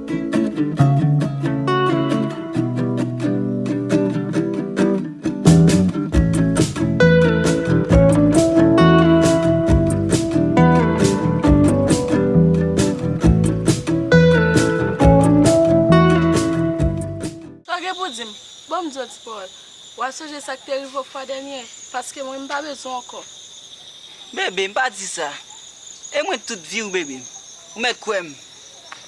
Sa gen pou di m? Ban m di w ti pawòl. W a sonje sa k te rive w fwa dènye? Paske mwen, m pa bezwen w ankò. Bebe, m pa di sa. E mwen tout vi w bebe m. Ou mèt kwè m.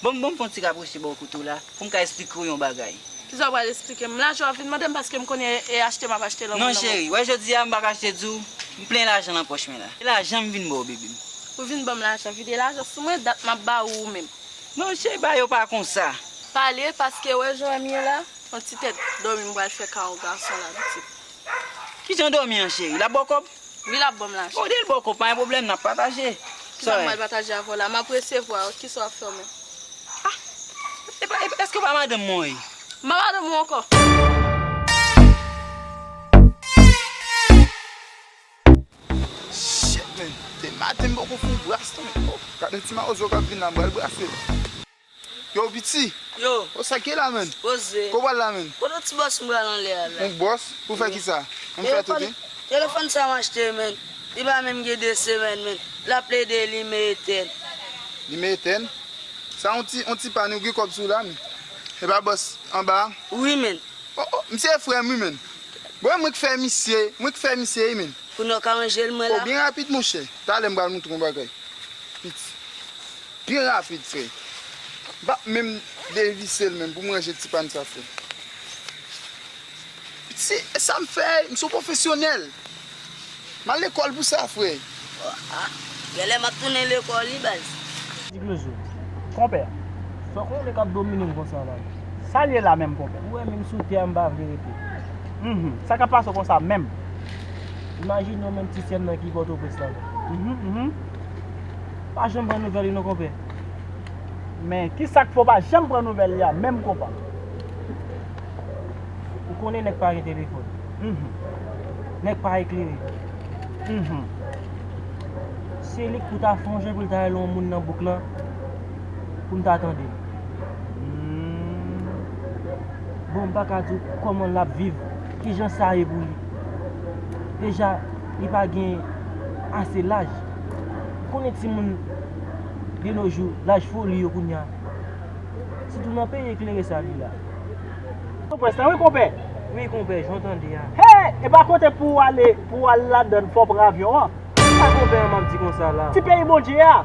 Bon bon m fè yon ti raproche ba w kote w la pou m ka esplike w yon bagay. Kisa w pral esplike m? M la jan w ap vin mande m paske m konnen e achte m ap achte lanmou nan Non cheri, wè jodi a m pa kache di w m plen lajan nan pòch mwen la. E lajan m vin ba w bebe m? Ou vin ban m lajan, vide lajan sou mwen, dat m ap ba ou ou menm. Non cheri bagay yo pa konsa. Pale paske wè jan m ye la, yon ti tèt dòmi m pral fè ka yon gason la pitit. Kijan dòmi an cheri? L ap ba w kòb? Wi lap banm lajan. Bon dil boko pa gen pwoblèm nap pataje. Kisa m pral pataje avèw la map resevwa yo kisa wap fè w menm. Ah eske ou pa madanm mwen wi. M pa madanm ou ankò. Shit men dematen m poko foun bras tou men oh gade ti mawozo kap vin la m pral brasel. Yow piti Yow sa ki la menn Koze Kow pral la menn Kote ti bòs m pral anlè a la Yon bòs pou fè kisa M fè tout hein Telefòn sa m achte menn Li pa menm gen 2 semèn menn Lap plede limen etèn Limen etèn Sa yon ti yon ti pàn ou gen kòb sou la menn Se pa bòs anba a Wi menn Oh oh misye e frè m wi menn Bon e mwen k fè misye Mwen k fè misye wi menn Kounye w ka ranje l mwen la Oh byen rapid monchè Talè m pral montre w yon bagay Piti. Byen rapid fre. M pap menm devise l menm pou m ranje ti pàn sa fre. Se sa m fè, m son pwofesyonèl. M al lekòl pou sa fre. Gèlè m ap tounen lekòl wi baz. Ti Klezo, Konpè, fè konnen k ap domine m konsa la. Sa l ye la menm konpè? Ou wè menm sou tè a m pa vle rete. Mph. Sa k ap pase w konsa menm? Imajine w menm ti sè m nan ki Pòtoprens la menm. Mph. Ou pa janm pran nouvèl li non konpè. Men kisak fè w pa janm pran nouvèl li a menm konpa. Ou konnen nèg pa gen telefòn. Mph. Nèg pa eklere. Mph. Se li k pou ta fè yon je pou l ta rele yon moun nan bouk lan pou m ta tande l. Mph. Bon m pa ka di w kòman l ap viv, kijan sa ye pou li. Deja. li pa gen ase laj. Ou konnen timoun de nos jours, laj foli yo kounya. Sitou nan peyi eklere sa li la. Ou pwès la wi konpè? Wi konpè, jan w tande a. Hee! Epa kote pou w ale, pou w al ladann fò w pran avyon an? Se sa konpè an m ap di konsa la. Ti peyi Bondje a!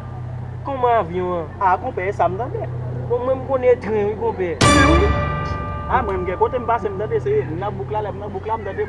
Kòman avyon an? A konpè, e sa m tande. Bon mwen m konnen e tren wi konpè. Tren wi? A mwen m gen kote m pase m tande se nan bouk la, lè m nan bouk la m tande.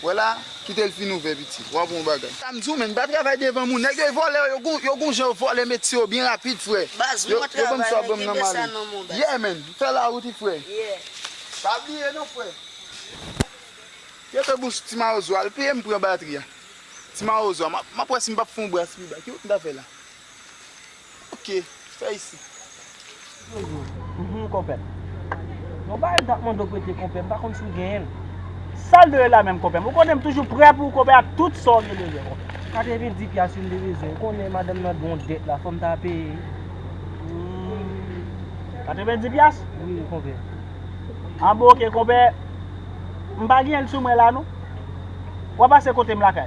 Wè la, kite l fin ouvè pitit. W ap wè yon bagay. Sa m di w menn, pa travay devan moun. Nèg yo e vòlè, yo gen yon jan yo vòlè metye yo byen rapid frè. Baz, mwen travay men kenbe sa nan men w baz. Yeah menn, fè lawout wi frè. Yeah. Pa bliye non frè. Kete bouch ti mawozo a, l peye m pran batri a. Ti mawozo a, m ap wè si m p ap fè yon bras pi ba. Ki wont m ta fè la? Ok, fè isit. Jojo, Mph konpè. Yon bagay mtap mande w prete konpè, mpa konn si w genyen l. Sal de la menm konpè. Ou konnen mtoujou prè pou w konpè ak tout sa w gen bezwen konpè. 90 pyas wi mte bezwen, ou konnen madanm nan gen yon dèt la fòm ta peye. Mph 90 pyas? Wi konpè. Ah bon ok konpè, mpa genyen l sou mwen la non. Wap pase kote m lakay?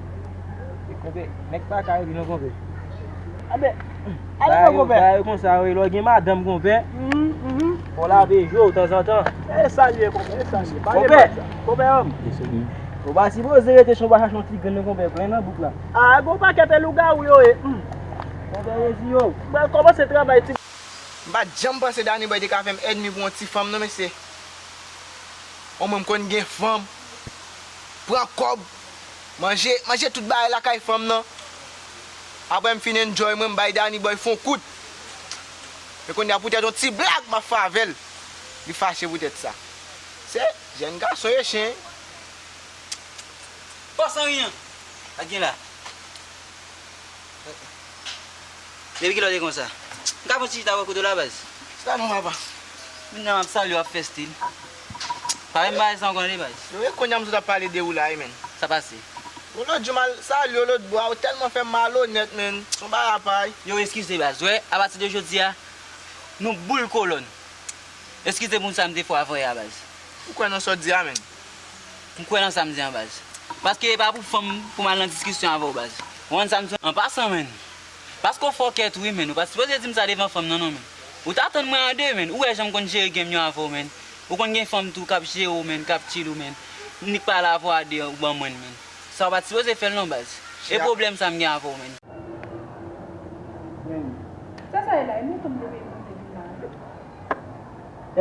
Konpè, nèg pa kay di non konpè. Anbè, alè non konpè. Bagay yo konsa wi, lè w gen madanm konpè, fò w lave je w tanzantan. E sa l ye konpè, e sa l ye. Pale mwen sa. Konpè an m. Ou pa sipoze rete si w pa chache yon ti grenn non konpè, plen nan bouk la. A, gen w pakèt e lougawou yo e. Konpè resi yo. M pral kòmanse travay ti. M pa t janm panse Daniboy te ka fè m èdmi pou yon ti fanm non mesye. O mwen m konn gen fanm, pran kòb. manje manje tout bagay lakay fanm nan aprè m fin enjoy mwen m bay Dani bòy fon kout men kounya poutèt yon ti blag map fè avèl li fache poutèt sa se jèn gason ye chen Fòs anriyan pa gen la Depi kilè w te konsa M ka pran ti chita avè w kote w la baz Sa nou papa Menm jan map salye w ap fè stil. Pa menm pale sa ankò tande baz. Yo e kounya m sot ap pale de ou la wi menn. Sa pase. Bon lòt jou mal sal yo lòt bwa ou tèlman fèm malonèt menn son bagay apay. Yow eskize baz wè apati de jodia nou boul kolòn eskize pou sa m te fè w avè yè a baz. Ou kwè nan sa w di a menn? M kwè nan sa m di an baz. Paske e pa pou fanm pou m al nan diskisyon avè w baz. Ou konprann sa m di w? An pasan menn. Paske w fòkèt wi menn ou pat sipoze dim sa devan fanm nan non menn ou ta tann mwen an 2 menn ou wè janm konn jere genm yo avèw menn ou konn gen fanm tou kap jere w menn kap chill ou menn mnik pale avèw a 2 an ou ban mwenn menn sa ou pat sipoze fèl non baz e pwoblèm sa m gen avèw menn. Menn. Sa sa ye la e mwen fanm te peye manje vin la wi.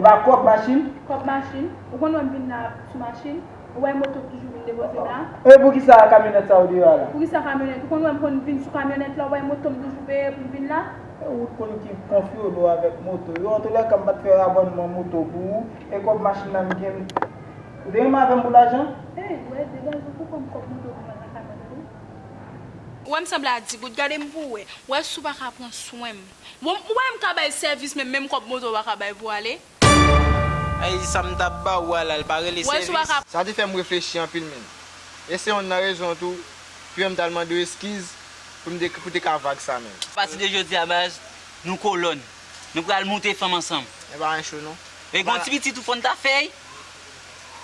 Epa kòb machin. Kòb machin. Ou konn wèm vin la sou machin. Ou wè moto ki toujou vin depoze m la? E poukisa kamyonèt sa ou deyò a la? Poukisa kamyonèt? Ou konn wè m konn vin sou kamyonèt la ou wè moto m toujou veye pou m vin la? E ou t konn ki konfyolo avèk moto yo? Antoulèka m pa t fè rabònman moto pou ou e kòb machin nan m gen m Ou te renmen avè m pou lajan? E ou wè degaj ou pou w ban m kòb moto pou mwen nan kamyonèt ou? Ou wè m sanble a digout gade m pou w wè. Ou wè si w pa ka pran swen m. Bon ou wè m ka bay sèvis men menm kòb moto ou pa ka bay pou ale? Ayy sam tap ba ou a la l pa rele sèvis. Sa te fè m reflechi anpil menn. E se yonn nan rezon tou ki fè m t al mande w eskiz pou m te pou te ka vag sa menn. Apati de jodi a baz, nou kolòn. Nou pral moute fanm ansanm. E pa yon cho non. E gon ti pitit ou fò n ta fè y.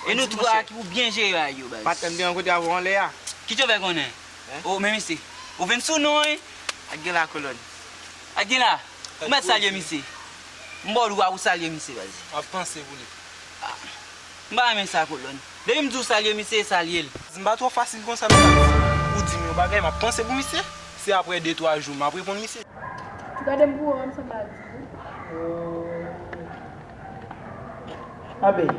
E nou 3 ki pou byen jere a yo baz. Patnè m te rankontre avè w anlè a. Kit yo fè konnen? Oh men mesye. Ou vin sou nou hein. Ak gen la kolòn. Ak gen la. Ou mèt salye misye. M baw dwa ou salye misye baz. Wap panse pou li. M pa renmen sa kolòn. Depi m diw salye misye e salye l. M pa twò fasil konsa nan sa misye. Ou dim yon bagay map panse pou misye. Se aprè de twa jou map reponn misye. Gade m pou ou an m sanble ak di ou. Anben.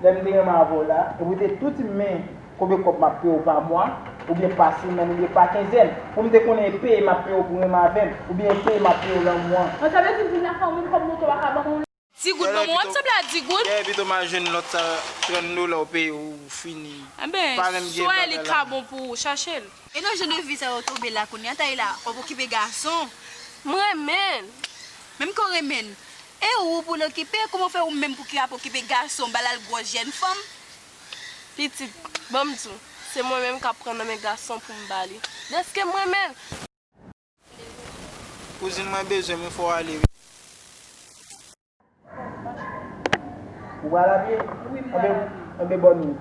Lè m te renmen avè w la. Epi ou te tou dim men. Konbyen kòb map peyew pa mwa, oubyen pa semèn oubyen pa kenzèn? Poum te konnen e peye map peyew pou renmen avèm, oubyen e peye map peyew lanmou an? An sa vle di vin nan fanmim kòb moto a ka banm on. Ti goud banm on ap sanble a di goud. Dayè pito mal jwenn lòt sa 30 dola ou peye ou fini Enben pa menm gen bagay la. Swè li ka bon pou ou chachel. E nan jan de vi sa yo tobe la kounya Tayla wap okipe gason m renmenl menm ke w renmenl e ou pou l okipe kouman w fè ou menm pou ki ap okipe gason ba lal gwòs jèn fanm. Pitit, ban m di w, se mwen menm k ap pran nan men gason pou m ba li. Dèske m renmen l! Kouzin mwen bezwen m wi fò w ale wi. Ou pral ale? Wi m pral ale. Enben bòn wout.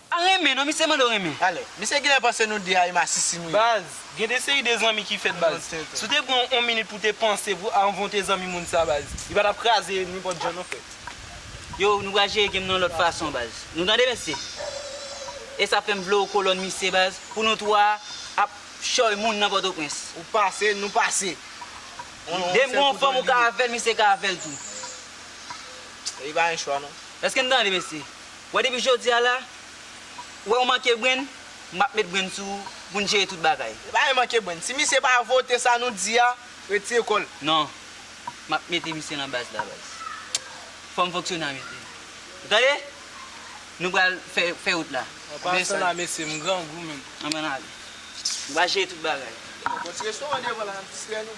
Pa renmen non misye mande w renmen. Ale. Misye genlè panse nou de a e masisi nou ye. Baz, gen de seri de zanmi ki fèt baz. Si w te pran on minit pou w te panse pou anvan w te zanmi moun sa baz, li pa tap kraze nenpòt jan non frè. Yow nou pral jere game nan lòt fason baz. Nou tande mesye? E sa fèm vle w kolòn misye baz pou nou 3 ap chòy moun nan pòtoprens. Ou pase, nou pase. Dem gen on fanm ou ka avèl misye ka avèl tou. Li pa gen chwa non. Eske n tande mesye? Wè depi jodi a la, ou wè ou manke brenn, map met brenn sou ou poun jere tout bagay. Li pa gen manke brenn. Si misye pa vote sa nou di a, retire kòl. Non. Map mete misye nan baz la baz. Fòm fonksyonè a mete. Ou tande? Nou pral fè fè wout la. An pasan la mesye, m grangou menm. Anban n ale. Nou pral jere tout bagay. Bon ti restoran devan la nap distrè nou.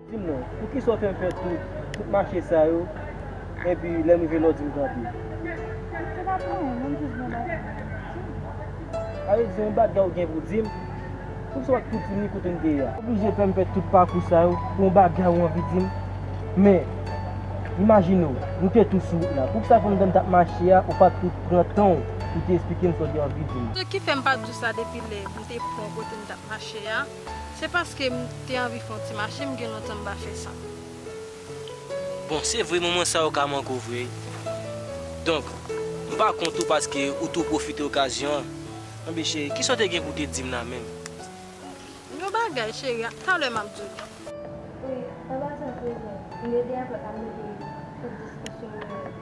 Dim non, poukisa w fè m fè tout, tout mache sa yo, enpi lè m rive la w di m kanpe? Dim, se pa pou anyen, men m jis gen yon bagay mwen vle di w. Ale di yon bagay w gen pou di m, poukisa w pa t kontinye kote n te ye a? Oblije fè m fè tout pakou sa yo pou yon bagay w anvi di m? Men, imajine w, nou te tou sou wout la, poukisa pandan n t ap mache a, ou pa t tou pran tan w pou w te esplike m sa w te anvi di m? Se ki fè m pa t di w sa depi lè m te pran w kote n t ap mache a? Se paske m te anvi fon ti mache m gen lontan m pa fè sa. Bon se vre moman sa yo ka manke w vre donk m pa kont ou paske ou tou pwofite okazyon an. Anben cheri kisa w te gen pou w te di m la menm? Yon bagay cheri talè m ap di w li. Wi, anba ti antre w jwenn m. M rete aprè pa m mete tout diskisyon yo.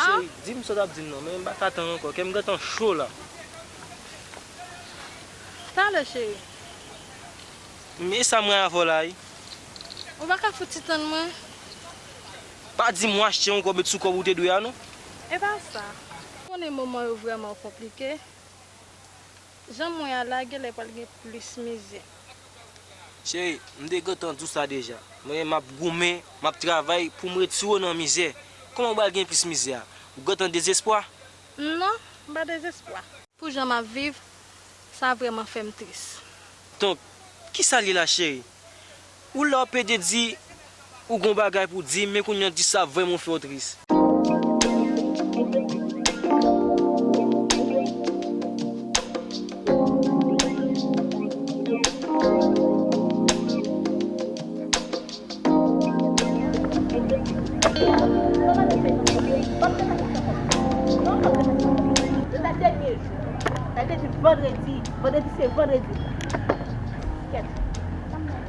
Cheri dim sa w tap dim nan men m pa ka tann ankò kè m gentan cho la. Talè cheri. M e sa mwen avè w la wi. Ou pa ka fouti tann mwen. Pa dim w achte yon kòb et sou kòb ou te dwe a non. Epa sa. M konnen moman yo vrèman konplike. Jan mwen a la genlè pral gen plis mize. Cheri, m te gentan di w sa deja, men m ap goumen, m ap travay pou m retire w nan mizè. Kòman w pral gen plis mizè? Ou gentan dezespwa? Non, m pa dezespwa. Pou jan m ap viv, sa vrèman fè m tris. Donk, ki sa l ye la cheri? Ou la w pede di. ou gon bagay pou dim men kounya di sa vrèman fè w tris.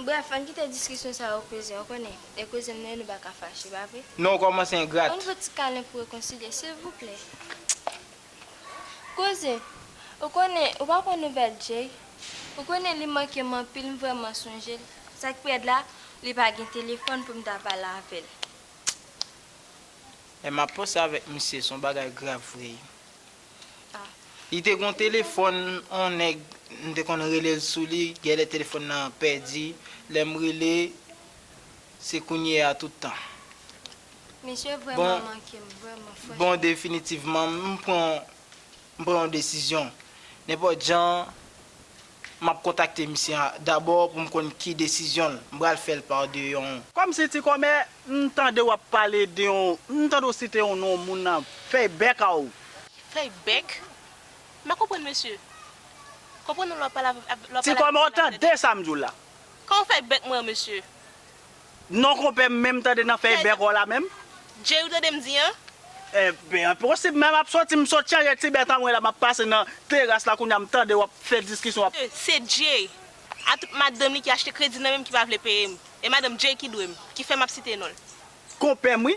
Brèf, ann kite diskisyon sa yo kouzin, ou konnen, lè kouzin nou ye nou pa ka fache, pa vre? Non ou kòmanse engrat. Ann fè ti kalen pou rekonsilye, silvouplè. Kouzin, ou konnen, ou pa pran nouvèl Jay? Ou konnen li manke m anpil, m vrèman sonje l. Sa k pi rèd la, li pa gen telefòn pou m ta pale avè l. Lè m ap panse avèk misye, s on bagay grav vre. Li te gon telefòn on nèg m te konn rele l sou li gèlè telefòn nan pèdi lè m rele se kounye a tout tan. Bon definitivman m pran yon desizyon nenpòt jan. M ap kontakte misye a dabò pou m konn ki desizyon l. M pral fè l pa de yon. Kòm si ti kòmè, m tande w ap pale de yon, m tande w site yon non moun nan fèy bèk a w. Fèy bèk? M pa konprann mesye. Konprann ou lè w ap pale avè m. Ti kòmè w tande sa m di w la? Kòman fèy bèk mwen an mesye? Non konpè m menm tande nan fèy bèk w la menm. Jay ou tande m di an? Enben enposib menm ap soti m sot chanje ti bèt an mwen la map pase nan teras la kounya m tande wap fè diskisyon wap. Se Jay a tout madanm li ki achte kredi nan menm ki pa vle peye m. E madanm Jay ki dwe m, ki fè map site non l. Konpè m wi.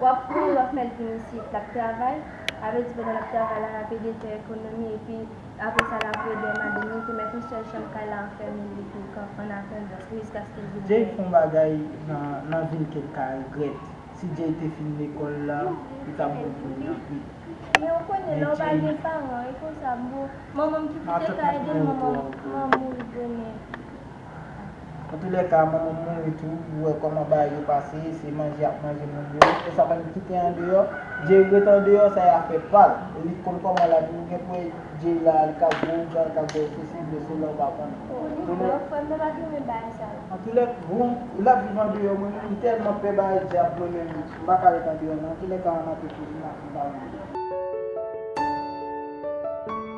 Wap pran wap met vin isit lap travay sa vle di pandan lap travay la lap ede fè ekonomi epi aprè sa lap reden madanm li te met yon sèl chanm kay la anfèmen li pou kan an atandans miss gaske vin Jay fon bagay nan nan vil ket ka regrèt si Jay te fin lekòl la li tap bon pou li anpil men ou konnen lè ou pa gen paran e konsa boo manmanm ki kite kay de manmanm manm mouri bonè. Antoulèka manmanm mouri tou ou wè kòman bagay yo pase se manje yap manje moun yo e sa bann kite andeyò Jay ret andeyò sa e afè pal e li konn kòman la vini gen pou wè Jay la li ka bwè ougan li ka bwè sosi li dwe sou la ou pa konn Antoulèk bon lap viv andeyò mwen menm m tèlman pè bagay dyab mwen menm m paka ret andeyò non Antoulèka an ap reflechi nan fè bagay.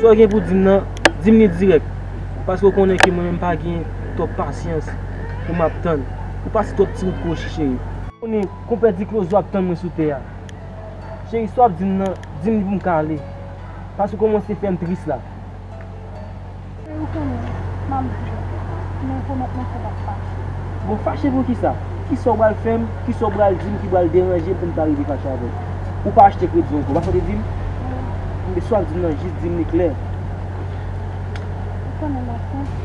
Sa w gen pou di m nan, di m li dirèk. Paske w konnen ke mwen menm pa gen twòp pasyans pou m ap tann. Ou pase twòp ti wout pou Ochi cheri. Ou konnen konpè Diklozo ap tann mwen sou tè a. Cheri sa w ap di m nan, di m li pou m ka ale. Paske w kòmanse fè m tris la. Se ou konnen, map diw, men pwomèt mwen ke map fache. Bon fache pou kisa? Kisa ou pral fèm, kisa ou pral dim ki pral deranjem poum ta rive fache avèw? Ou pa achte kredi ankò, ou pa sonje dim? Tande sa wap dim nan jis dim li klè. Ou konnen mwen senp.